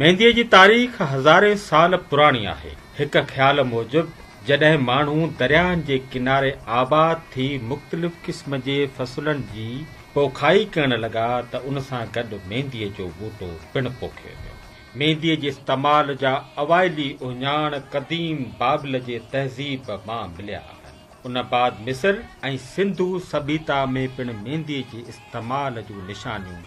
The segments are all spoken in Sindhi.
مينديء جي تاريخ هزارين سال پراڻي آهي. هڪ خيال موجب جڏهن ماڻهو درياهن جي ڪناري آباد ٿي مختلف قسم جي فصلن جي پوکائي ڪرڻ لڳا ته ان سان گڏ مينديء جو ٻوٽو پڻ پوکيو ويو. مينديء جي استعمال جا اوائلي اهڃاڻ قديم بابل جي تهذيب مان مليا آهن. ان بعد مصر ۽ سنڌو سڀيتا ۾ پڻ مينديء جي استعمال جون نشانيون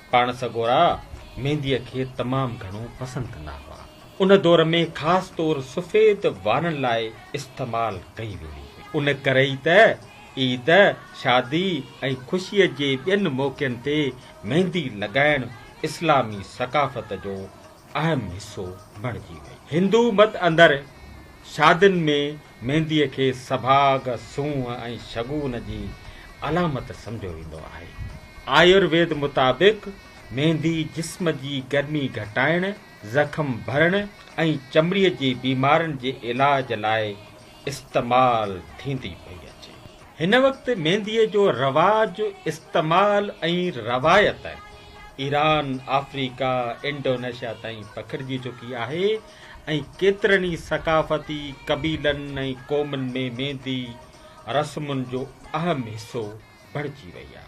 پاڻ سڳورا مينديء کي تمام گهڻو پسند ڪندا هئا. ان دور ۾ خاص طور سفيد وارن لاء استعمال ڪئي ويندي هئي. ان ڪري ئي ته عيد، شادي ۽ خوشيء جي ٻين موقعن تي ميندي لڳائڻ اسلامي ثقافت جو اهم حصو بڻجي وئي. هندو مت اندر شادين ۾ مينديء کي سڀاڳ، سونهن ۽ شگون جي علامت سمجهيو ويندو آهي. آيورويد مطابق ميندي جسم جي گرمي گهٽائڻ، زخم ڀرڻ ۽ چمڙيء جي بيمارين جي علاج لاء استعمال ٿيندي پئي اچي. هن وقت مينديء جو رواج، استعمال ۽ روايت ايران، آفريڪا، انڊونيشيا تائين پکڙجي چڪي آهي ۽ ڪيترن ئي ثقافتي قبيلن ۽ قومن ۾ ميندي رسمن جو اهم حصو بڻجي وئي آ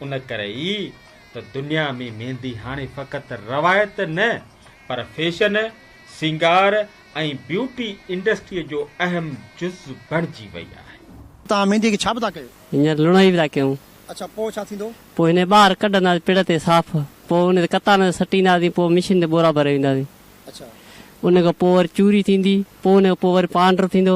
ان ڪري ئي ته دنيا ۾ ميندي هاڻي فقط روايت نه پر فيشن، سينگار ۽ بيوٽي انڊسٽري جو اهم جز بڻجي وئي آهي. توهان ميندي کي ڇا به ٿا ڪيو؟ هينئر لڻائي به ٿا ڪيون. اڇا پوء ڇا ٿيندو؟ پوء هن کي ٻاهر ڪڍنداسين پڙ تي صاف پوء ان تي ڪتان تي سٽينداسين پوء مشين تي ٻورا ڀري وينداسين. اڇا. ان کان پوء وري چوري ٿيندي پوء ان کان پوء وري پانڊر ٿيندو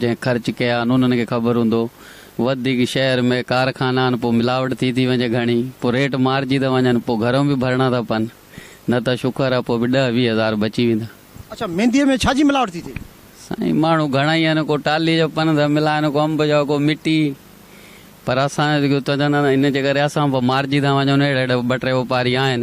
جنهن خرچ ڪيا آهن انهن کي خبر هوندو وڌيڪ شهر ۾ ڪارخانا آهن پو ملاوٽ ٿي ٿي وڃي گهڻي پو ريٽ مارجي ٿا وڃن پو گهرون به ڀرڻا ٿا پن نه ته شڪر آهي پو به ڏهه ويهه هزار بچي ويندا. اڇا مينديء ۾ ڇا جي ملاوٽ ٿي ٿئي؟ سائين ماڻهو گهڻا ئي آهن ڪو ٽالهي جا پن ٿا ملائن ڪو انب جا ڪو مٽي پر اسان جو جيڪو چوندا آهن ان جي ڪري اسان به مارجي ٿا وڃون اهڙا اهڙا ٻه ٽي واپاري آهن.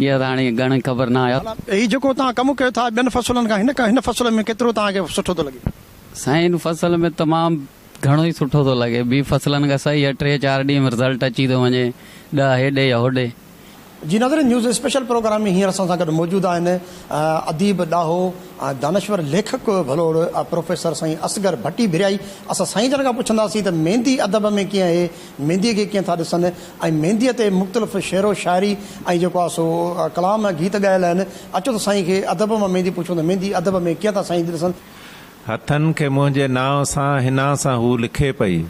يار هاڻي گهڻي خبر نه آهي. هي جيڪو توهان ڪم ڪيو ٿا ٻين فصلن کان هن هن فصل ۾ ڪيترو توهان کي سٺو ٿو لڳي؟ سائين هن فصل ۾ تمام گهڻو ئي سٺو ٿو لڳي ٻي فصلن کان صحيح آهي ٽي چار ڏينهن ۾ رزلٽ اچي ٿو وڃي ڏهه هيڏي يا هوڏي. جي ناظرين نيوز اسپيشل پروگرام ۾ هينئر اسان سان گڏ موجود آهن اديب ڏاهو ۽ دانشور ليکڪ ڀلوڙ پروفيسر سائين اصغر ڀٽي ڀريائي اسان سائين جن کان پڇنداسين ته ميندي ادب ۾ ڪيئن اهي مينديء کي ڪيئن ٿا ڏسن ۽ مينديء تي مختلف شعر و شاعري ۽ جيڪو آهي سو ڪلام ۽ گيت ڳايل آهن. اچو ته سائين کي ادب مان ميندي پڇون ته ميندي ادب ۾ ڪيئن ٿا سائين جي ڏسن. هٿن کي منهنجي نانء سان حنا سان هو لکي پئي.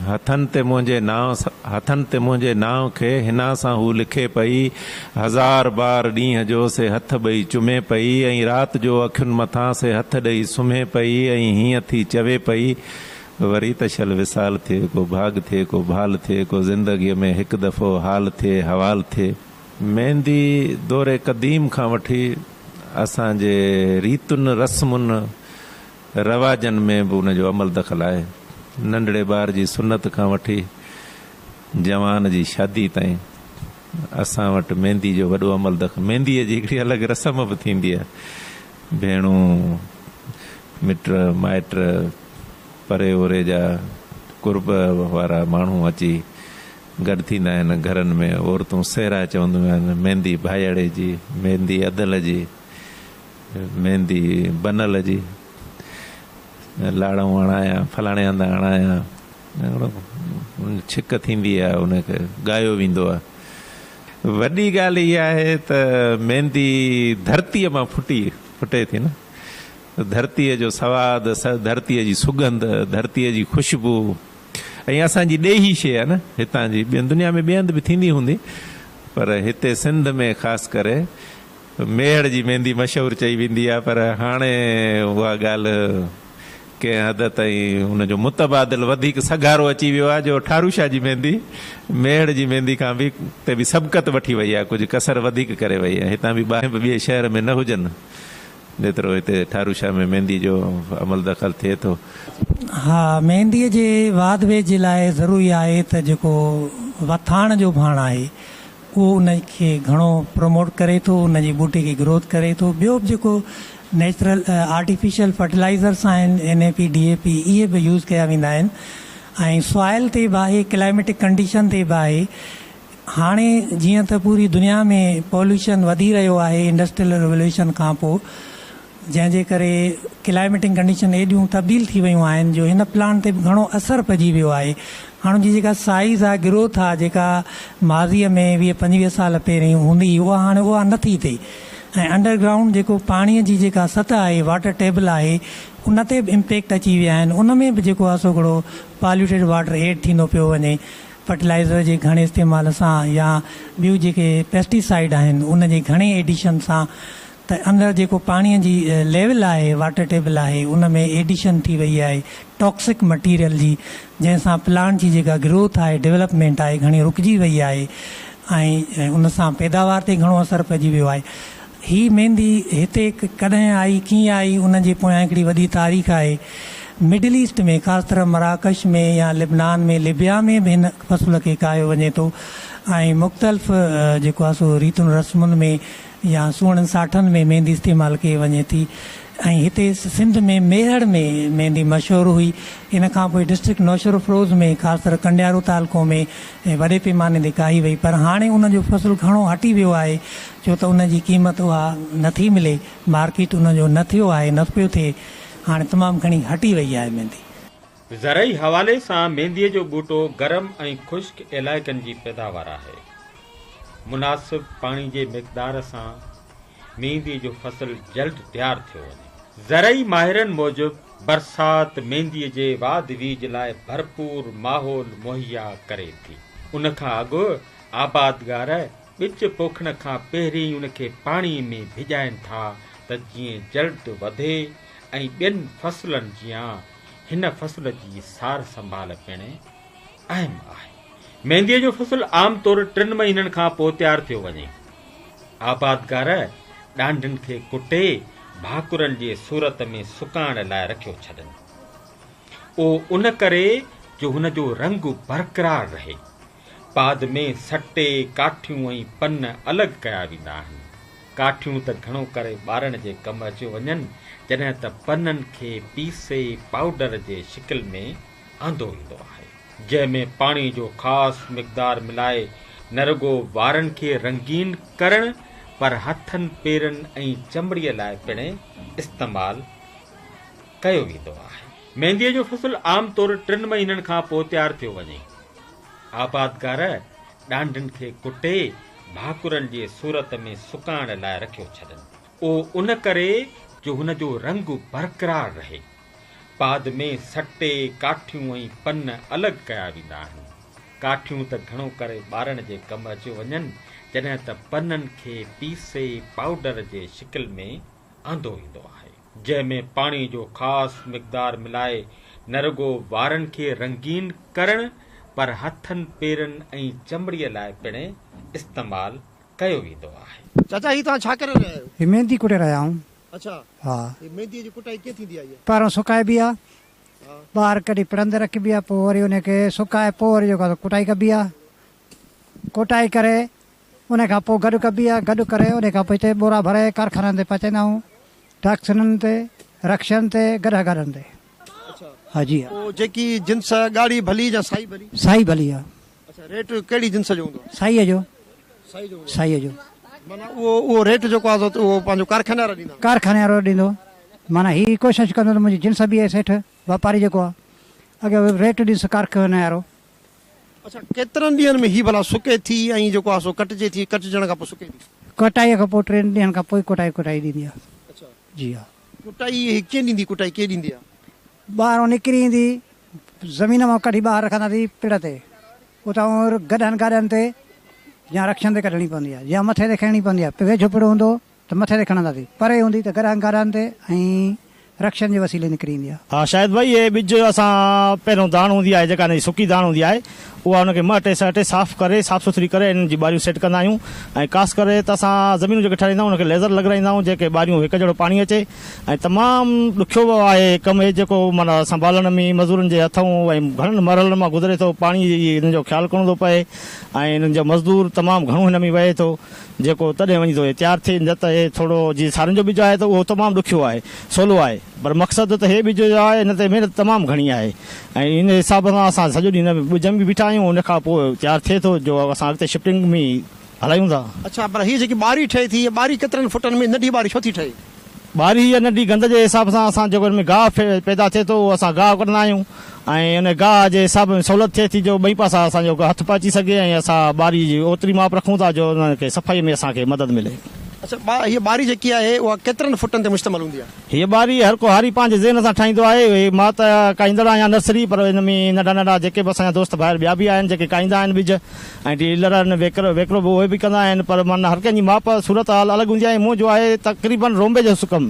هٿن تي منهنجي نانء هٿن تي منهنجي نانء کي حنا سان هو لکي پئي. هزار بار ڏينهن جو سي هٿ ٻئي چمي پئي ۽ رات جو اکين مٿان سي هٿ ڏئي سمهي پئي ۽ هيئن ٿي چوي پئي. وري ته شل وصال ٿئي، ڪو ڀاڳ ٿئي، ڪو ڀال ٿئي، ڪو زندگيء ۾ هڪ دفعو حال ٿئي، حوال ٿئي. ميندي دور قديم کان وٺي اسان جي ريتن، رسمن، رواجن ۾ به ان جو عمل دخل آهي. ننڍڙي ٻار جي سنت کان وٺي جوان جي شادي تائين اسان وٽ ميندي جو وڏو عمل دخل. مينديء جي هڪڙي الڳ رسم به ٿيندي آهي. ڀيڻون مٽ مائٽ، پري اوري جا قرب وارا ماڻهو اچي گڏ ٿيندا آهن. گهرن ۾ عورتون سهرا چونديون آهن، ميندي ڀائياڙي جي، ميندي ادل جي، ميندي بنل جي، لاڙئون هڻايا، فلاڻي هنڌ هڻايا، ڇڪ ٿيندي آهي ان کي ڳايو ويندو آهي. وڏي ڳالهه اها آهي ته ميندي ڌرتيء مان ڦٽي ڦٽي ٿي نه. ڌرتيء جو سواد، ڌرتيء جي سگنڌ، ڌرتيء جي خوشبو ۽ اسان جي ڏيهي شيء نه هتان جي، ٻين دنيا ۾ ٻئي هنڌ به ٿيندي هوندي پر هتي سنڌ ۾ خاص ڪري ميهڙ جي ميندي مشهور چئي ويندي آهي پر هاڻي اها ڳالهه ڪنهن حد تائين ان جو متبادل وڌيڪ سگهارو اچي ويو آهي جو ٺاروشاه جي ميندي ميهڙ جي ميندي کان به تي به سبقت وٺي وئي آهي ڪجهه ڪسر وڌيڪ ڪري وئي آهي هتان به باهه ٻئي شهر ۾ نه هجن. نيترو هتي ٺارو شاهه ۾ مينديء جو عمل دخل ٿئي ٿو. ها مينديء جي واڌ ويجهه جي لاء ضروري آهي ته جيڪو وٿاڻ جو ڀاڻ آهي اهو ان کي گهڻو پروموٽ ڪري ٿو ان جي ٻوٽي کي گروٿ ڪري ٿو ٻيو به جيڪو نيچرل آرٽيفيشل فرٽيلائزرس آهن N A P D A P اهي به يوز ڪيا ويندا آهن ۽ سوائل تي به آهي ڪلائميٽڪ ڪنڊيشن تي به آهي هاڻي جيئن ته پوري دنيا ۾ پوليوشن وڌي رهيو آهي انڊسٽريل ريوليوشن کان پوء جنهن جي ڪري ڪلائميٽنگ ڪنڊيشن ايڏيون تبديل ٿي ويون آهن جو هن پلانٽ تي به گهڻو اثر پئجي ويو آهي هاڻ ان جي جيڪا سائيز آهي گروٿ آهي جيڪا ماضي ۾ ويهه پنجويهه سال پهرين هوندي هئي اها هاڻي اها نه ٿي ٿئي ۽ انڊر گرائونڊ جيڪو پاڻي جي جيڪا سطح آهي واٽر ٽيبل آهي ان تي به امپيڪٽ اچي ويا آهن ان ۾ به جيڪو آهي سو گهڻو پاليوٽيڊ واٽر ايڊ ٿيندو پيو وڃي فرٽيلائيزر جي گهڻي استعمال سان يا ٻيون جيڪي پيسٽي سائيڊ آهن ان جي گهڻي ايڊيشن سان ته اندر جيڪو پاڻي جي ليول آهي واٽر ٽيبل آهي ان ۾ ايڊيشن ٿي وئي آهي ٽاڪسڪ مٽيريل جي جنهن سان پلانٽ جي جيڪا گروٿ آهي ڊولپمينٽ آهي گهڻي رڪجي وئي آهي ۽ ان سان پيداوار تي گهڻو اثر پئجي ويو آهي هي ميندي هتي ڪڏهن آئي، ڪيئن آئي، ان جي پويان هڪڙي وڏي تاريخ آهي. مڊل ايسٽ ۾ خاص طرح مراڪش ۾ يا لبنان ۾ لبيا ۾ به هن فصل کي ڪاهيو وڃي ٿو ۽ مختلف جيڪو آهي سو ريتن رسمن ۾ يا سوڻن ساٺن ۾ ميندي استعمال ڪئي وڃي ٿي ۽ هتي سنڌ ۾ ميهڙ ۾ ميندي مشهور هئي ان کان پوء ڊسٽرڪٽ نوشهروفروز ۾ خاص طرح ڪنڊيارو تعلقو ۾ وڏي پيماني تي ڪاهي وئي پر هاڻي ان جو فصل گهڻو هٽي ويو آهي ڇو ته ان جي قيمت اها نه ٿي ملي، مارڪيٽ ان جو نه ٿيو آهي، نه پيو ٿئي، هاڻي تمام گهڻي هٽي وئي آهي ميندي. زرعي حوالي سان مينديء جو ٻوٽو گرم ۽ خشڪ علائقن جي پيداوار آهي. مناسب پاڻي جي مقدار سان مينديء جو فصل جلد تيار ٿيو وڃي. زرعي ماهرن موجب برسات مينديء جي واڌ ويجهه لاء ڀرپور ماحول مهيا ڪري ٿي. ان کان اڳ آبادگار، ٻچ پوکڻ کان پهرين ان کي پاڻي ۾ ڀيڄائين ٿا ته جيئن جلد وڌي ۽ ٻين فصلن جيان هن فصل جي سار سنڀال پڻ اهم آهي. مينديء جو فصل عام طور ٽن مهينن کان پوء تيار ٿيو وڃي. آبادگار ڏانڍن کي ڪٽي ڀاڪرن جي صورت ۾ سڪائڻ لاء رکيو ڇڏن. اهو ان ڪري جو هن جو رنگ برقرار رهي پاد ۾ سٽي، ڪاٺيون ۽ پن الڳ ڪيا ويندا آهن. ڪاٺيون ته گهڻو ڪري ٻارڻ جي ڪم اچيون وڃن، جڏهن ته پنن کي پيسي پائوڊر جي شڪل ۾ آندو ويندو آهي. جنهن ۾ پاڻي جو خاص مقدار ملائي نه رڳو وارن کي رنگين ڪرڻ پر هٿن، پيرن ۽ چمڙي لاء پڻ استعمال ڪيو ويندو آهي. مينديء جو فصل عام طور ٽن مهينن کان پوء تيار ٿيو وڃي. آبادگار ڏانڍن کي ڪٽي ڀاڪرن جي صورت ۾ سڪائڻ لاء رکيو ڇڏن. اهو ان ڪري جو هن جو رنگ برقرار رهي. بعد ۾ سٽي، ڪاٺيون ۽ پن الڳ ڪيا ويندا آهن. ڪاٺيون ته گهڻو ڪري ٻارڻ جي ڪم اچيو وڃن، جڏهن ته پنن کي پيسي پائوڊر جي شڪل ۾ آندو ويندو آهي. جنهن ۾ پاڻي جو خاص مقدار ملائي نه رڳو وارن کي رنگين ڪرڻ پر هٿن پيرن ۽ چمڙي لاء پڻ استعمال ڪيو ويندو آهي. چاچا هي توهان ڇا ڪري رهيا آهيو. هي ميندي ڪٽي رهيا آهيون. اڇا ها. هي ميندي جي ڪٽائي ڪيئن ٿيندي آهي. پهريون سڪائبي آهي. ها. ٻاهر ڪڍي پڙهندي رکبي آهي پوء وري ان کي سڪائي پوء وري جيڪو آهي سو ڪٽائي ڪبي آهي. کوٽائي ڪري انهي کان پوء گڏ ڪبي آهي گڏ ڪري انهي کان پوء هتي ٻورا ڀري ڪارخانن تي پهچائيندا آهيون ٽرڪسنن تي رڪشن تي گڏها گاڏن تي ها جي ها. پوء جيڪي جنس ڳاڙهي ڀلي جا سائي ڀلي. سائي ڀلي ها. اڇا ريٽ ڪهڙي جنس جو هوندو آهي. سائي جو. سائي جو هوندو. سائي جو. معنيٰ اهو اهو ريٽ جيڪو آهي سو اهو پنهنجو ڪارخاني وارا ڏيندا. ڪارخاني وارو ڏيندو معنيٰ هي ڪوشش ڪندو ته منهنجي جنس بي هي سيٺ واپاري جيڪو آهي اگي ريٽ ڏيس ڪارخاني وارو اڇا ڪيترن ڏينهن ۾ هي بلا سڪي ٿي ۽ جيڪو آهي سو ڪٽجي ٿي ڪٽجڻ کان پوء سڪي ٿي. ڪٽائي کان پوء ٽن ڏينهن کان پوء ڪٽائي ڪٽائي ڏيندي آهي اڇا جي ها. ڪٽائي هي ڪين ڏيندي ڪٽائي ڪين ڏيندي آهي. ٻاهرون نڪري ايندي زمين مان ڪڍي ٻاهر رکندا سي پڙ تي اتان گڏهن گاڏهن تي يا رڪشن تي ڪڍڻي پوندي آهي يا مٿي تي کڻڻي پوندي آهي ويجهو پڙ هوندو ته مٿي تي کڻنداسين. پري هوندي ته گرهن گارهن تي ۽ رڪشن جي وسيلي نڪري ايندي آهي. ها شاهد ڀائي هي ٻج اسان پهريون داڻ هوندي آهي جيڪا ان جي سڪي داڻ هوندي آهي اها ان کي مهٽي سهٽي صاف ڪري صاف سٿري ڪري انهن جي ٻاريون سيٽ ڪندا آهيون ۽ خاص ڪري ته اسان زمينون جيڪي ٺهرائيندا آهيون ان کي ليزر لڳرائيندا آهيون جيڪي ٻاريون هڪ جهڙو پاڻي اچي ۽ تمام ڏکيو آهي ڪم هي جيڪو معنيٰ سنڀالڻ ۾ مزورن جي هٿئون ۽ گهڻن مرحلن مان گذري ٿو پاڻي جي انهن جو خيال ڪرڻو ٿو پئي ۽ انهن جو مزدور تمام گهڻو هن ۾ وهي ٿو جيڪو تڏهن وڃي ٿو تيار ٿئي نه ته هي ٿورو جيئن سارن جو ٻج آهي ته اهو تمام ڏکيو آهي سولو آهي پر مقصد ته هي ٻج جو آهي ان تي محنت تمام گهڻي آهي ۽ ان حساب سان اسان سڄو ڏينهن ان ٻج ۾ به بيٺا آهيون ان کان پوء تيار ٿئي ٿو جو اسان اڳتي شفٽنگ ۾ هلايون ٿا. اڇا پر هي جيڪي ٻاري ٺهي ٿي هي ٻاري ڪيترن فٽن ۾ ننڍي ٻاري ڇو ٿي ٺهي؟ ٻاري يا ننڍي گند جي حساب سان اسان جيڪو ان ۾ گاهه پيدا ٿئي ٿو اهو اسان گاهه ڪڍندا آهيون ۽ ان گاهه جي حساب سان سهولت ٿئي ٿي جو ٻئي پاسا اسان جو هٿ به اچي سگهي ۽ اسان ٻاري جي اوتري ماپ رکون ٿا جو ان کي صفائي ۾ اسان کي مدد ملي. اڇا ٻا هيء ٻاري جيڪي آهي اها ڪيترن فٽن تي مشتمل هوندي آهي؟ هيء ٻاري هر ڪو هاري پنهنجي ذهن سان ٺاهيندو آهي. مان ته ڪاهيندڙ آهيان نرسري پر ان ۾ ننڍا ننڍا جيڪي به اسان جا دوست ڀائر ٻيا به آهن جيڪي ڪاهيندا آهن ٻج. ۽ ڊيلر ۽ ويڪرو ويڪرو به اهي به ڪندا آهن پر معنيٰ هر ڪنهن جي ماپ صورت حال الڳ هوندي آهي منهن جو آهي تقريبن رونبي جو سڪم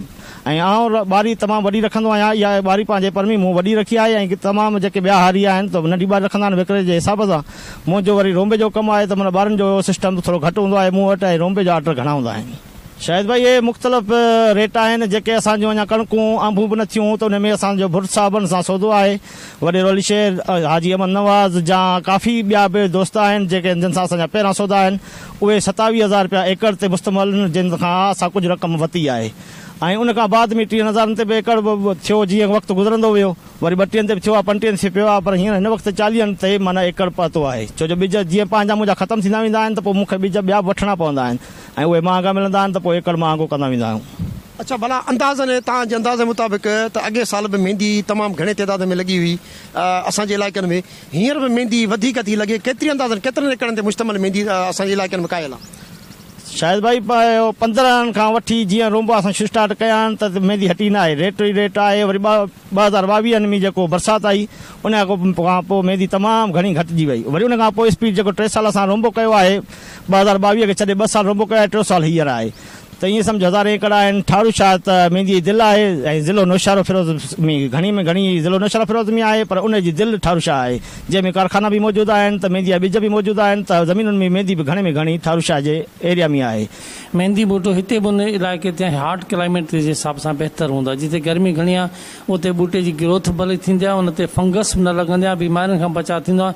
۽ آئون ٻاري تمام وڏي رکندو آهيان اها ٻاري پنهنجي پرمي مون وڏي رکي آهي ۽ تمام جيڪي ٻيا هاري آهن ته ننڍي ٻاري رکندا آهن ويڪري جي حساب سان منهن جو وري رونبي جو ڪم آهي ته معنيٰ ٻارن جو سسٽم ٿورو گهٽ هوندو آهي مون وٽ ۽ رونبي جا آرڊر گهڻا هوندا آهن. شاهد ڀائي اهي مختلف ريٽ آهن جيڪي اسان جون اڃا ڪڻڪون انبون به نه ٿيون ته انهي ۾ اسان جو ڀٽ صاحبن سان سودو آهي وڏيرو علي شير حاجي احمد نواز جا ڪافي ٻيا به دوست آهن جيڪي جن سان اسان جا پهريان سودا آهن اهي ستاويهه هزار رپيا ايڪڙ تي مستمل ان جن کان اسان ڪجهه رقم وتي آهي ۽ ان کان بعد ۾ ٽيهن هزارن تي به ايڪڙ ٿيو جيئن وقت گذرندو ويو وري ٻٽيهن تي به ٿيو آهي پنٽيهن تي پيو آهي پر هينئر هن وقت چاليهن تي معنيٰ ايڪڙ پهتو آهي ڇو جو ٻج جيئن پنهنجا منهنجا ختم ٿيندا ويندا آهن ته پوء مون کي ٻج ٻيا به وٺڻا پوندا آهن ۽ اهي مهانگا ملندا آهن ته پوء ايڪڙ مهانگو ڪندا ويندا آهيون. اڇا ڀلا اندازن ۽ تان جي اندازي مطابق ته اڳئين سال به ميندي تمام گهڻي تعداد ۾ لڳي هئي اسان جي علائقن ۾ هينئر به ميندي وڌيڪ ٿي لڳي ڪيتري اندازن ڪيترن ايڪڙن تي مشتمل ميندي اسان جي علائقن ۾ ڪاهيل آهي. شاهد ڀائي پندرهن کان وٺي جيئن رونبا اسان شسٽارٽ ڪيا آهن ته ميندي هٽي نه آهي ريٽ ئي ريٽ آهي وري ٻه ٻه هزار ٻاويهن ۾ جيڪو برسات آئي ان کان پوء ميندي تمام گهڻي گهٽجي وئي وري ان کان پوء اسپيڊ جيڪو ٽي سال اسان رونبو ڪيو آهي ٻه هزار ٻاويهه کي ڇڏي ٻه سال رنبو ڪيو آهي، ٽيون سال هينئر آهي ته ايئن سمجهه هزار ايڪڙ آهن، ٺاڙهو شاهه ته مينديء جي دل آهي ۽ ضلعو نوشهروفيروز ۾ گهڻي ۾ گهڻي ضلعو نوشهروفيروز ۾ آهي پر ان جي دل ٺاڙهو شاهه آهي جنهن ۾ ڪارخانا به موجود آهن ته ميندي جا ٻج به موجود آهن ته زمينن ۾ ميندي به گهڻي ۾ گهڻي ٺاڙهو شاهه جي ايريا ۾ آهي. ميندي ٻوٽو هتي به ان علائقي تي هاٽ ڪلائميٽ جي حساب سان بهتر هوندو آهي جتي گرمي گهڻي آهي اتي ٻوٽي جي گروٿ ڀلي ٿيندي آهي ان تي فنگس به نه لڳندي آهي بيمارين کان بچاء ٿيندو آهي.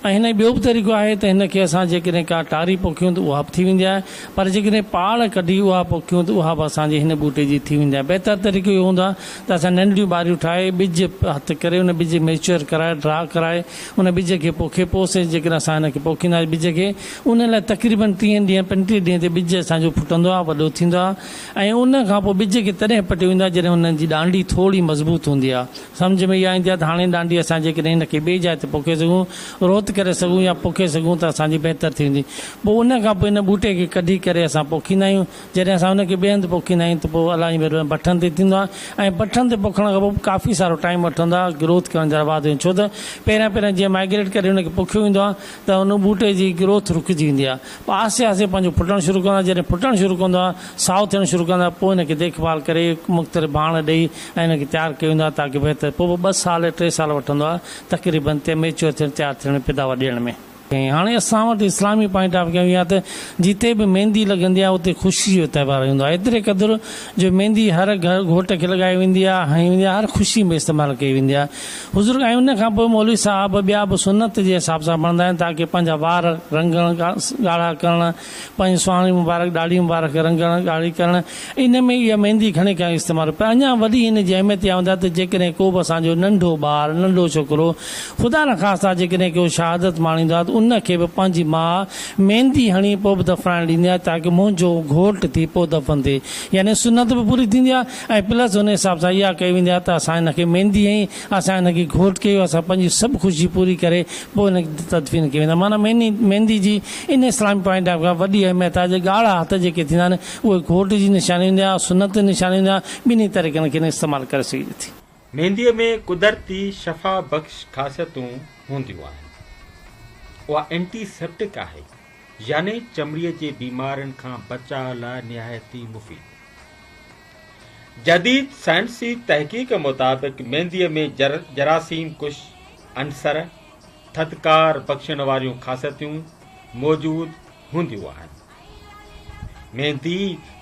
۽ هن ٻيو به طريقو آهي ته هن کي اسان جيڪڏهن ڪا ٽاري پوکيون ته اها به ٿي ويندي آهي پر جيڪڏهن پاڙ ڪڍي اها پوکيون ته اها به اسان جي هن ٻوٽي جي ٿي ويندي آهي بهتر طريقو اهو هوندو آهي ته اسان ننڍڙيون ٻاريون ٺاهي ٻج هٿ ڪري ان ٻج ميچوئر ڪرائي ڊرا ڪرائي ان ٻج کي پوکي پوء سي جيڪڏهن اسان هن کي پوکينداسين ٻج کي ان لاء تقريبن ٽيهن ڏينهن پنجٽيهن ڏينهن تي ٻج اسان جو ڦٽندو آهي وڏو ٿيندو آهي ۽ ان کان پوء ٻج کي تڏهن پٽيو ويندو آهي جڏهن ان جي ڏانڊي ٿورڙي مضبوط هوندي آهي سمجهه ۾ اها ايندي آهي ته هاڻي ڏانڊي اسان جيڪڏهن ان کي ٻئي جاء تي پوکي سگهون، روت ڪري سگهون يا پوکي سگهون ته اسان جي بهتر ٿي ويندي. پوء ان کان پوء ان ٻوٽي کي ڪڍي ڪري اسان پوکيندا آهيون. جڏهن اسان ان کي ٻئي هنڌ پوکيندا آهيون ته پوء الائي وري بٺن تي ٿيندو آهي ۽ بٺن تي پوکڻ کان پوء به ڪافي سارو ٽائيم وٺندو آهي گروٿ ڪرڻ جا واڌ ۾ ڇو ته پهريان پهريان جيئن مائگريٽ ڪري ان کي پوکيو ويندو آهي ته ان ٻوٽي جي گروٿ رڪجي ويندي آهي پوء آهستي آهستي پنهنجو ڦٽڻ شروع ڪندو آهي جڏهن ڦٽڻ شروع ڪندو آهي سائو ٿيڻ شروع ڪندو آهي پوء ان کي ديکڀال ڪري مختلف ڀاڻ ڏئي ۽ ان کي تيار ڪيو ويندو آهي تاڪ بهتر پوء به ٻه سال ٽي سال وٺندو آهي تقريبن تي ميچيور ٿيڻ تيار ٿيڻ ۾ پيداوار ڏيڻ ۾. ۽ هاڻي اسان وٽ اسلامي پوائنٽ آف ويو اها ته جتي به ميندي لڳندي آهي اتي خوشي جو تهوار هوندو آهي ايتري قدر جو ميندي هر گهر گهوٽ کي لڳائي ويندي آهي هنئي ويندي آهي هر خوشي ۾ استعمال ڪئي ويندي آهي حضور ۽ ان کان پوء مولوي صاحب ٻيا به سنت جي حساب سان ڀڻندا آهن تاڪ پنهنجا وار رنگڻ ڳاڙها ڪرڻ پنهنجي سهڻي مبارڪ ڏاڙهي مبارڪ کي رنگڻ، ڳاڙهي ڪرڻ، ان ۾ اها ميندي گهڻي ڪري استعمال هئي. پر اڃا وڏي ان جي اهميت اها هوندي آهي ته جيڪڏهن ڪو به اسان جو ننڍو ٻار، ننڍو ڇوڪرو، خدا نخواسته جيڪڏهن ڪو شهادت ماڻيندو آهي ته ان کي به پنهنجي ماء ميندي هڻي پوء به دفنائڻ ڏيندي آهي تاڪه منهنجو گهوٽ ٿي پوء دفن ٿئي. يعني سنت به پوري ٿيندي آهي ۽ پلس ان حساب سان اها ڪئي ويندي آهي ته اسان هن کي ميندي هنئي اسان هن کي گهوٽ ڪيو، اسان پنهنجي سڀ خوشي پوري ڪري پوء هن کي تدفين ڪيو ويندو آهي. معنيٰ ميني، ميندي، جي ان اسلامي پوائنٽ آف کان وڏي اهميت آهي جو ڳاڙها هٿ جيڪي ٿيندا آهن اهي گهوٽ جي نشاني هوندي آهي سنت جي نشاني هوندي آهي ٻنهي طريقن کين استعمال ڪري سگهجي ٿي. مينديء ۾ قدرتي شفا بخش خاصيتون هونديون آهن. اها اينٽي سيپٽڪ آهي يعني چمڙي جي بيمارين کان بچاء لاء نهايت ئي مفيد. جديد سائنسي تحقيق مطابق مينديء ۾ جراثيم ڪش عنصر، ٿڌڪار بخشڻ واريون خاصيتون، موجود هونديون آهن. ميندي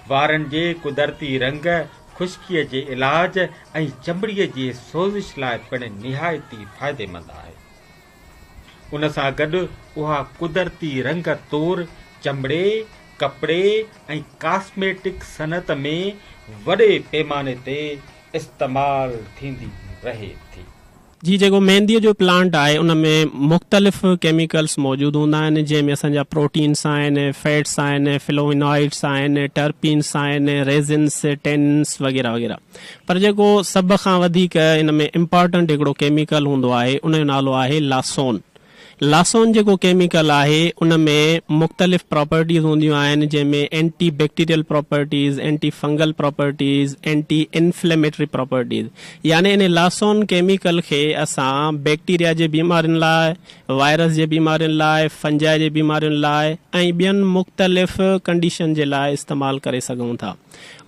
وارن جي قدرتي رنگ، خشڪيء جي علاج ۽ چمڙيء جي سوزش لاء پڻ نهايتي فائديمند آهي. ان سان گڏ اها قدرتي رنگ طور چمڙي، ڪپڙي ۽ ڪاسميٽڪ صنعت ۾ وڏي پيماني تي استعمال ٿيندي رهي ٿي. جي جيڪو مينديء جو پلانٽ آهي ان ۾ مختلف ڪيميڪلز موجود هوندا آهن جنهن ۾ اسان جا پروٽينز آهن، فيٽس آهن، فلوونوائيڊز آهن، ٽرپينز آهن، ريزنز، ٽيننز وغيره وغيره. پر جيڪو سڀ کان وڌيڪ ان ۾ امپارٽنٽ هڪڙو ڪيميڪل هوندو آهي ان جو نالو آهي لاسون. لاسون جيڪو ڪيميڪل آهي ان ۾ مختلف پراپرٽيز هونديون آهن جنهن ۾ anti bacterial properties, anti fungal properties, anti inflammatory properties يعني انهي لاسون ڪيميڪل کي اسان بيڪٽيريا جي بيمارين لاء، وائرس جي بيمارين لاء، فنجائي جي بيمارين لاء ۽ ٻين مختلف ڪنڊيشن جي لاء استعمال ڪري سگهون ٿا.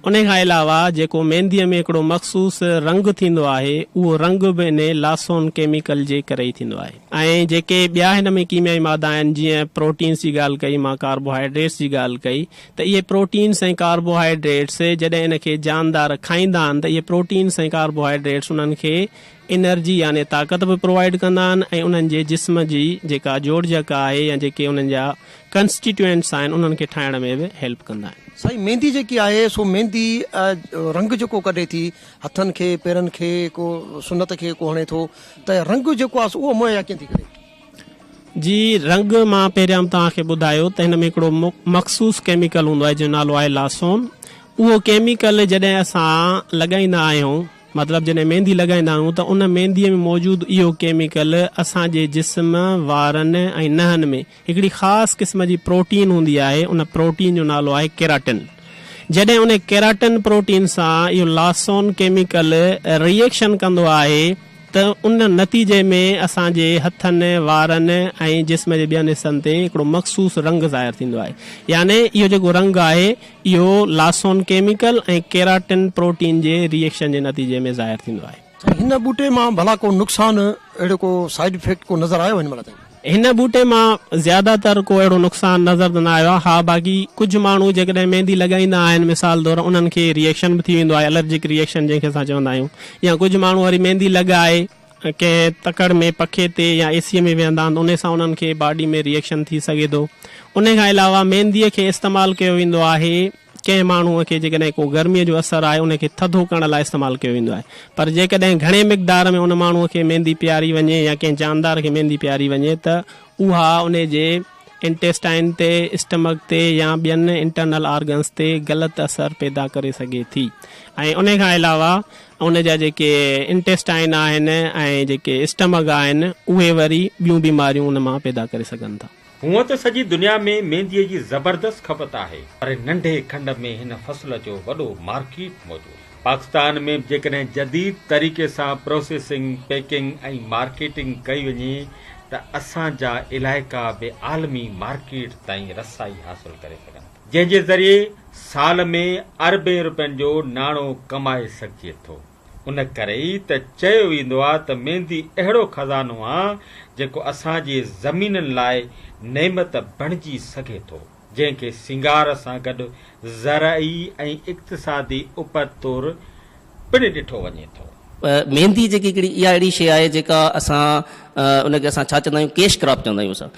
انهي کان علاوه جيڪو مينديء ۾ هڪڙو مخصوص رنگ ٿيندو آهي، اهو رنگ به انهي لاسون ڪيميڪل جي ڪري ئي ٿيندو آهي. ۽ جيڪي ٻيا هن ۾ ڪيميائي مادا آهن، جيئن پروٽينز جي ڳالهه ڪئي مان، ڪاربوهائيڊريٽس جي ڳالهه ڪئي ته اهي پروٽينز ۽ ڪاربوهائيڊريٽس جڏهن ان کي جاندار کائيندا آهن ته اهي پروٽينز ۽ ڪاربوهائيڊريٽس انهن کي انرجي يعني طاقت به پرووائيڊ ڪندا آهن ۽ انهن جي جسم جي جيڪا جوڙجڪ آهي يا جيڪي انهن جا ڪنسٽيٽيوئنٽس آهن انهن کي ٺاهڻ ۾ به هيلپ ڪندا آهن. سائين ميندي جيڪي آهي سو ميندي رنگ جيڪو ڪڍي ٿي هٿن کي پيرن کي ڪو سنت کي ڪو هڻي ٿو ته رنگ جيڪو آهي سو اهو مهيا ڪيئن ٿي ڪري؟ جي رنگ مان پهريان به توهان کي ٻڌايو ته هن ۾ هڪڙو مخصوص ڪيميڪل هوندو آهي جنهن جو نالو آهي لاسون اهو ڪيميڪل جڏهن اسان لڳائيندا آهيون مطلب جڏهن ميندي لڳائيندا آهيون ته ان مينديء ۾ موجود اهو ڪيميڪل اسان جي جسم، وارن ۽ نهن ۾ هڪڙي خاص قسم جي پروٽين هوندي آهي، ان پروٽين جو نالو آهي ڪيراٽن. جڏهن ان ڪيراٽن پروٽين سان اهو لاسون ڪيميڪل ري ايڪشن ڪندو آهي ته ان نتيجي ۾ اسان جي هٿن، وارن ۽ جسم جي ٻين حصن تي هڪڙو مخصوص رنگ ظاهر ٿيندو آهي يعني اهو جيڪو رنگ آهي، اهو لاسون ڪيميڪل ۽ ڪيراٽن پروٽين جي ري ايڪشن جي نتيجي ۾ ظاهر ٿيندو آهي. سائين هن ٻوٽي مان ڀلا ڪو نقصان اهڙو ڪو سائيڊ افيڪٽ ڪو نظر آيو هن مهل تائين؟ هن ٻوٽي مان زياده تر ڪو اهڙو نقصان نظر ته نه آيو آهي ها باقي ڪجهه ماڻهو جيڪڏهن ميندي لڳائيندا آهن مثال طور انهن کي ري ايڪشن به ٿي ويندو آهي الرجڪ ري ايڪشن جنهن کي اسان چوندا آهيون يا ڪجهه ماڻهو وري ميندي لڳائي ڪنهن تڪڙ ۾ پکي تي يا اي سي ۾ ويهندا آهن انهي سان انهن کي باڊي ۾ ريئڪشن ٿي سگهي ٿو انهي کان علاوه ميندي کي استعمال ڪيو ويندو آهي ڪنهن ماڻهو کي جيڪڏهن ڪو گرمي جو اثر آهي انهي کي ٿڌو ڪرڻ لاء استعمال ڪيو ويندو آهي پر جيڪڏهن گهڻي مقدار ۾ ان ماڻهو کي ميندي پياري وڃي يا ڪنهن جاندار کي ميندي پياري وڃي ته اها انهي جي انٽيسٽائن تي، اسٽمڪ تي يا ٻين انٽرنل آرگنز تي غلط اثر پيدا ڪري سگهي ٿي ۽ انهي کان علاوه ان جا جيڪي انٽيسٽائن آهن ۽ جيڪي اسٽمڪ آهن اهي وري ٻيون بيماريون ان مان پيدا ڪري سگهن ٿا. هونئن ته سڄي دنيا ۾ مينديء جي زبردست کپت آهي پر ننڍي کنڊ ۾ هن فصل جو وڏو مارڪيٽ موجود آهي. پاڪستان ۾ به جيڪڏهن جديد طريقي سان پروسيسنگ، پيڪنگ ۽ مارڪيٽنگ ڪئي وڃي ته اسان جا علائقا به عالمي مارڪيٽ تائين رسائي حاصل ڪري سگهن ٿا، جنهن جي ذريعي سال ۾ اربين رپين جو ناڻو ڪمائي سگهجي ٿو. ان ڪري ئي ته چيو ويندو آهي ته ميندي اهڙو خزانو آهي، جيڪو اسان جي زمينن لاء نعمت بڻجي سگهي ٿو. جنهن کي سينگار سان گڏ زرعي ۽ اقتصادي اپت طور پڻ ڏٺو وڃي ٿو. ميندي جيڪي هڪڙي اها اهڙي شيء آهي جيڪا اسان ان کي اسان ڇا چوندا آهيون ڪيش ڪراپ چوندا آهيون اسان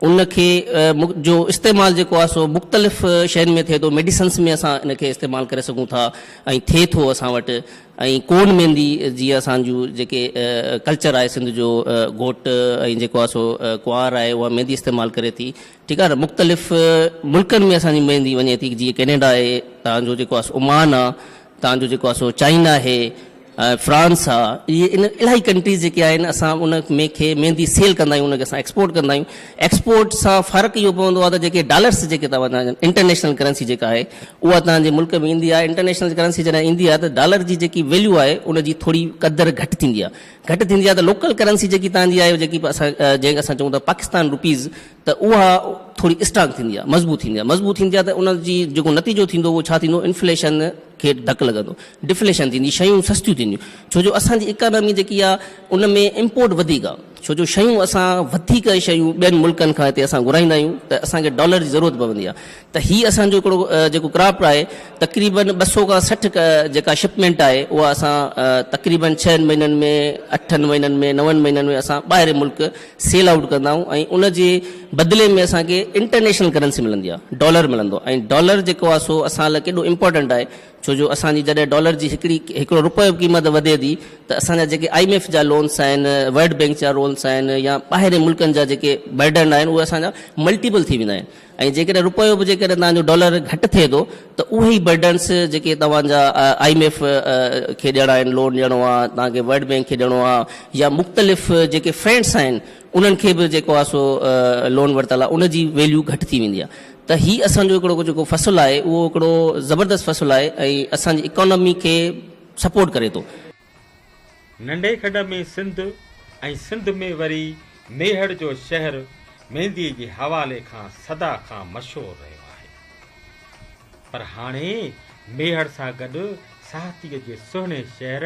ان کي جو استعمال جيڪو آهي سو مختلف شين ۾ ٿئي ٿو ميڊيسنس ۾ اسان ان کي استعمال ڪري سگهون ٿا ۽ ٿئي ٿو اسان وٽ ۽ ڪون ميندي جي اسان جون جيڪي ڪلچر آهي سنڌ جو گهوٽ ۽ جيڪو آهي سو ڪنوار آهي اها ميندي استعمال ڪري ٿي ٺيڪ آهي نه مختلف ملڪن ۾ اسان جي ميندي وڃي ٿي جيئن ڪينيڊا آهي تان جو جيڪو آهي عمان آهي تان جو جيڪو آهي چائنا آهي فرانس آهي اهي ان الاهي ڪنٽريز جيڪي آهن اسان ان ۾ کي ميندي سيل ڪندا آهيون ان کي اسان ايڪسپورٽ ڪندا آهيون ايڪسپورٽ سان فرق اهو پوندو آهي ته جيڪي ڊالرس جيڪي تان وٽان انٽرنيشنل ڪرنسي جيڪا آهي اها تان جي ملڪ ۾ ايندي آهي انٽرنيشنل ڪرنسي جڏهن ايندي آهي ته ڊالر جي جيڪي ويليو آهي ان جي ٿوري قدر گهٽ ٿيندي آهي گهٽ ٿيندي آهي ته لوڪل ڪرنسي جيڪي تهان جي آهي جيڪي اسان جنهن کي اسان چئون ٿا پاڪستان روپيز ته اها ٿوري اسٽرانگ ٿيندي آهي مضبوط ٿيندي آهي مضبوط ٿيندي آهي ته ان جي جيڪو نتيجو ٿيندو اهو ڇا ٿيندو انفليشن کي ڌڪ لڳندو ڊفليشن ٿيندي شيون سستيون ٿينديون ڇو جو اسان جي اڪانامي جيڪي آهي ان ۾ امپورٽ وڌيڪ آهي ڇو جو شيون اسان وڌيڪ شيون ٻين ملڪن کان هتي اسان گهرائيندا آهيون ته اسان کي ڊالر جي ضرورت پوندي آهي ته هي اسان جو هڪڙو جيڪو ڪرافٽ آهي تقريبن ٻه سؤ کان سٺ جيڪا شپمينٽ آهي اها اسان تقريبن ڇهن مهينن ۾ اٺن مهينن ۾ نون مهينن ۾ اسان ٻاهرين ملڪ سيل آئوٽ ڪندا آهيون ۽ ان جي بدلي ۾ اسان کي انٽرنيشنل ڪرنسي ملندي آهي ڊالر ملندو آهي ۽ ڊالر جيڪو آهي سو اسان لاء ڪيڏو امپورٽنٽ آهي ڇو جو اسان جي جڏهن ڊالر جي هڪڙي هڪڙو روپيو جي قيمت وڌي ٿي ته اسان جا جيڪي آء ايم ايف جا لونس آهن ورلڊ بينڪ جا لونس آهن يا ٻاهرين ملڪن جا جيڪي برڊن آهن اهي اسان جا ملٽيپل ٿي ويندا آهن ۽ جيڪڏهن رپيو به جيڪڏهن توهان جو ڊالر گهٽ ٿئي ٿو ته اهي ئي برڊنس جيڪي توهان جا آء ايم ايف کي ڏيڻا آهن، لون ڏيڻو آهي، توهان کي ورلڊ بينڪ کي ڏيڻو آهي يا مختلف جيڪي فرينڊس آهن انهن کي به جيڪو آهي سو لون ورتل آهي ان جي ويليو گهٽ ٿي ويندي آهي. ته هي اسان جو هڪڙو جيڪو فصل آهي اهو هڪڙو زبردست فصل آهي ۽ اسان جي اڪانامي کي سپورٽ ڪري ٿو. ننڍي کڏ ۾ سنڌ ۽ سنڌ ۾ وري ميهڙ جو شهر مينديء جي حوالي کان سدا کان مشهور رهيو آهي. پر هاڻي ميهڙ سان گڏ ساهتيء جي سهڻي شهر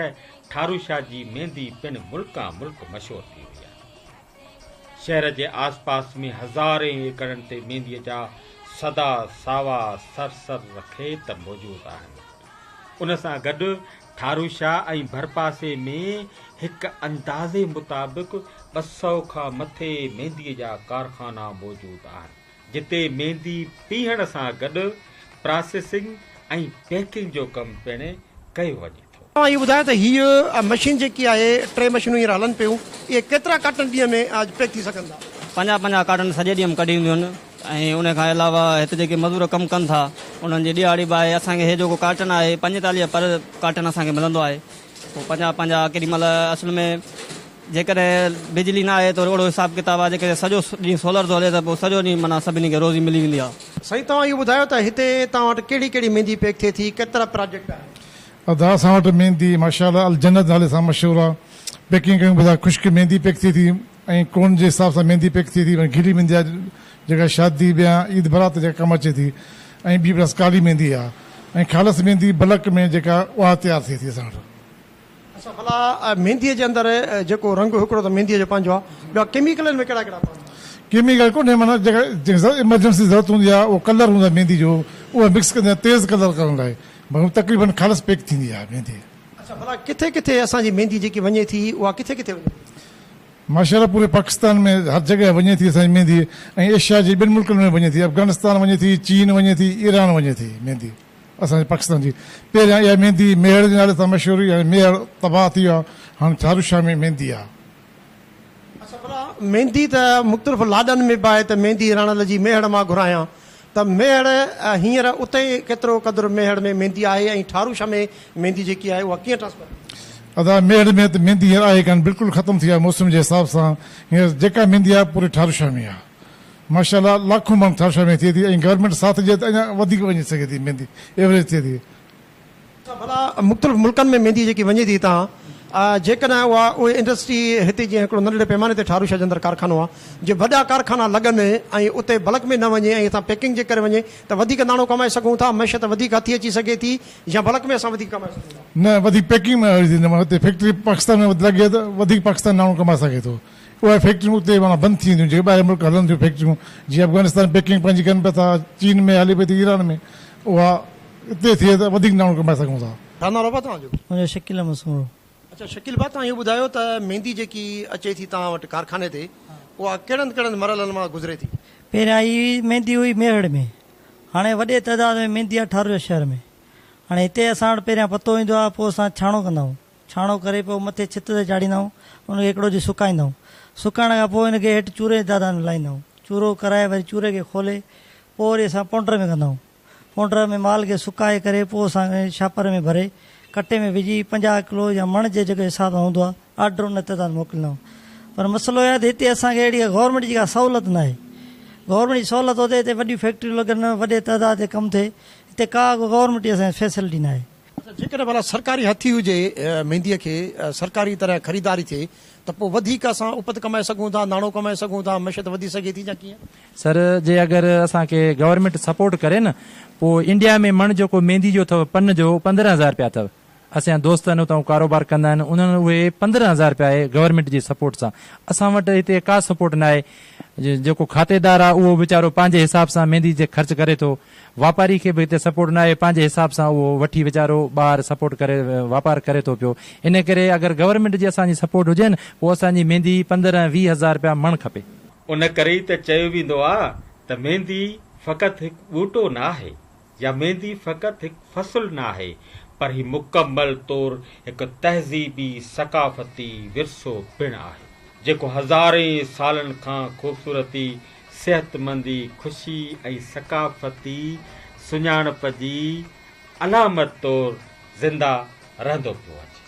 ٺاروشاه جي ميندي پڻ ملڪان ملڪ مشهور ٿي وئي آهي. شهر جي آس پاس ۾ هزارين ايڪڙن تي مينديء جا سدا ساوا سرسبز کيت موجود آهن. ان سان گڏ ٺاروشا ۽ ڀرپاسي ۾ هڪ اندازي مطابق ٻه سؤ کان مٿي مينديء جا ڪارخانا موجود آهن، جتي ميندي پيهڻ سان گڏ پراسيسنگ ۽ پيڪنگ جو ڪم پڻ ڪيو وڃي ٿو. توهان اهو ٻڌايو ته هيء مشين جيڪي آهي ٽي مشينون هينئر هلن پيون اهي ڪيترا ڪارٽن ڏينهن ۾ پيڪ ٿي سگهن ٿا؟ پنجاهه پنجاهه ڪارٽن سڄي ڏينهن م ڪڍي وينديون آهن. ۽ ان کان علاوه هت جيڪي مزور ڪم ڪن ٿا انهن جي ڏيهاڙي به آهي اسان کي هي جيڪو ڪارٽن آهي پنجيتاليهه پر ڪارٽن اسان کي ملندو آهي پوء پنجاهه پنجاهه ڪيڏي مهل اصل ۾ جيڪڏهن بجلي نه آهي ته اهڙو حساب ڪتاب آهي جيڪڏهن سڄو ڏينهن سولر ٿو هلي ته پوء سڄو ڏينهن معنيٰ سڀني کي روزي ملي ويندي آهي. سائين توهان اهو ٻڌايو ته هتي توهان وٽ ڪهڙي ڪهڙي ميندي پيڪ ٿئي ٿي ڪيترا پراجيڪٽ آهن. ادا اسان وٽ ميندي ماشاء الله الجنت نالي سان مشهور آ پيڪنگ ڪيون ٻڌا خشڪ ميندي پيڪ ٿئي ٿي. ۽ ڪون جي حساب سان ميندي پيڪ ٿئي ٿي، گيلي ميندي آ جيڪا شادي بيان، عيد برات تي جيڪا ڪم اچي ٿي ۽ ٻي بس ڪالي ميندي آ ۽ خالص ميندي بلڪ ۾ جيڪا اها تيار ٿئي ٿي اسان وٽ. اچا ڀلا ميندي جي اندر جيڪو رنگ هڪڙو ته ميندي جو پنهنجو آ ٻيا ڪيميڪل ان ۾ ڪهڙا ڪهڙا پوندو آ؟ ڪيميڪل ڪونهي معنيٰ جيڪا ايمرجنسي ضرورت هوندي آ اهو ڪلر هوندو آ ميندي جو اهو مڪس ڪندي آ تيز ڪلر ڪرڻ لاء مگر تقريبن خالص پيڪ ٿيندي آ ميندي. اچا ڀلا ڪٿي ڪٿي اسان جي ميندي جيڪي وڃي ٿي اها ڪٿي ڪٿي وڃي ٿي؟ ماشاءالله پوري پاڪستان ۾ هر جڳهه وڃي ٿي اسان جي ميندي ۽ ايشيا جي ٻين ملڪن ۾ وڃي ٿي افغانستان وڃي ٿي چين وڃي ٿي ايران وڃي ٿي ميندي اسان جي پاڪستان جي پهريان اها ميندي ميهڙ جي نالي سان مشهور هئي هاڻي ميهڙ تباهه ٿي ويو آهي هاڻي ٿارو شاهه ۾ ميندي آهي. اڇا ڀلا ميندي ته مختلف لاڏن ۾ به آهي ته ميندي راڻل جي ميهڙ مان گهرايان. ته ميهڙ هينئر اتي ڪيترو قدر ميهڙ ۾ ميندي آهي ۽ ٺاروشا ۾ ميندي جيڪي آهي اها ڪيئن ٽرانسفر ٿي سگهي ٿي؟ ادا ميهڙ ۾ ته ميندي هينئر آهي ڪانه بلڪل ختم ٿي آهي موسم جي حساب سان هينئر جيڪا ميندي آهي پوري ٺاروشا ۾ آهي ماشا الله لاکون مڻ ٺاروشا ۾ ٿئي ٿي ۽ گورنمينٽ ساٿ ڏي ته اڃا وڌيڪ وڃي سگهي ٿي ميندي ايوریج ٿئي ٿي ته ڀلا مختلف ملڪن ۾ ميندي جيڪي وڃي ٿي هتان جيڪڏهن اها اهي انڊسٽري هتي جيئن هڪڙو ننڍڙي پيماني تي ٺاروشاه جي اندر ڪارخانو آهي جي وڏا ڪارخانا لڳن ۽ اتي بلڪ ۾ نه وڃي ۽ هتان پيڪنگ جي ڪري وڃي ته وڌيڪ ناڻو ڪمائي سگهون ٿا معيشت وڌيڪ هٿي اچي سگهي ٿي يا بلڪ ۾ اسان وڌيڪ ڪمائي سگهون ٿا. نه وڌيڪ پيڪنگ ۾ هرجي ٿي نه معنيٰ اتي فيڪٽري پاڪستان ۾ لڳي ته وڌيڪ پاڪستان ناڻو ڪمائي سگهي ٿو اهي فيڪٽريون اتي معنيٰ بند ٿي وينديون جيڪي ٻاهرين ملڪ هلن ٿيون فيڪٽريون جيئن افغانستان پيڪنگ پنهنجي ڪن پيا ٿا چين ۾ هلي پئي ٿي ايران ۾ اها اتي ٿئي ته وڌيڪ ناڻو ڪمائي سگهون ٿا. ڇا نالو ڀا توهان جو؟ منهنجو شڪيل احمد سومرو. اڇا شڪيل ڀا توهان اهو ٻڌايو ته ميندي جيڪي اچي ٿي توهان وٽ ڪارخاني تي اها ڪهڙن ڪهڙن مرحلن مان گذري ٿي؟ پهريان هي ميندي هئي ميهڙ ۾ هاڻي وڏي تعداد ۾ ميندي آ ٺارويو شهر ۾ هاڻي هتي اسان وٽ پهريان پتو ايندو آ پوء اسان ڇاڻو ڪندا آهيون ڇاڻو ڪري پوء مٿي ڇت تي چاڙهيندا آهيون ان کي هڪڙو ڏينهن سڪائيندا آهيون سڪائڻ کان پوء ان کي هيٺ چوري جي تعداد ۾ لاهيندا آهيون چورو ڪرائي وري چوري کي کولي پوء وري اسان پونڊر ۾ ڪندا آهيون. پونڊر ۾ مال کي سڪائي ڪري پوء اسان کي شاپر ۾ ڀري ڪٽي ۾ وجهي پنجاهه ڪلو يا مڻ جي جيڪو حساب سان هوندو آهي آرڊر ان تعداد موڪليندا هئا پر مسئلو اهو آهي ته هتي اسان کي اهڙي گورنمينٽ جي ڪا سهولت ناهي گورنمينٽ جي سهولت هوندي هتي وڏيون فيڪٽريون لڳن وڏي تعداد تي ڪم ٿئي هتي ڪا ڪو گورنمينٽ جي اسان کي فيسلٽي ناهي. ته جيڪڏهن ڀلا سرڪاري هٿي هجي مينديء کي سرڪاري طرح خريداري ٿئي ته پوء وڌيڪ اسان اپت ڪمائي سگهون ٿا، ناڻو ڪمائي سگهون ٿا، معشيت وڌي سگهي ٿي يا ڪيئن؟ سر جي اگر اسان کي گورنمينٽ سپورٽ ڪري نه پوء انڊيا ۾ مڻ جيڪو ميندي جو اٿو پن جو پندرهن هزار رپيا اٿو اسين دوست آهن اتان ڪاروبار ڪندا آهن انهن اهي پندرهن هزار رپيا اهي گورنمينٽ جي سپورٽ سان اسان وٽ هتي ڪا سپورٽ ناهي جيڪو کاتيدار آهي اهو ويچارو پنهنجي حساب سان ميندي تي خرچ ڪري ٿو واپاري کي به هتي سپورٽ نه آهي پنهنجي حساب سان اهو وٺي ويچارو ٻاهر سپورٽ ڪري واپار ڪري ٿو پيو ان ڪري اگر گورنمينٽ جي اسان جي سپورٽ هجي نه پوء اسان جي ميندي پندرهن ويهه هزار رپيا مڻ کپي. ان ڪري ئي ته چيو ويندو آ ته ميندي فقط هڪ ٻوٽو نه آهي يا ميندي فقط هڪ فصل نه آهي پر هي مڪمل طور هڪ تهذيبي ثقافتي ورثو پڻ آهي جيڪو هزارين سالن کان خوبصورتي صحتمندي، خوشي ۽ ثقافتي سڃاڻپ جي علامت طور زنده رهندو پيو اچي.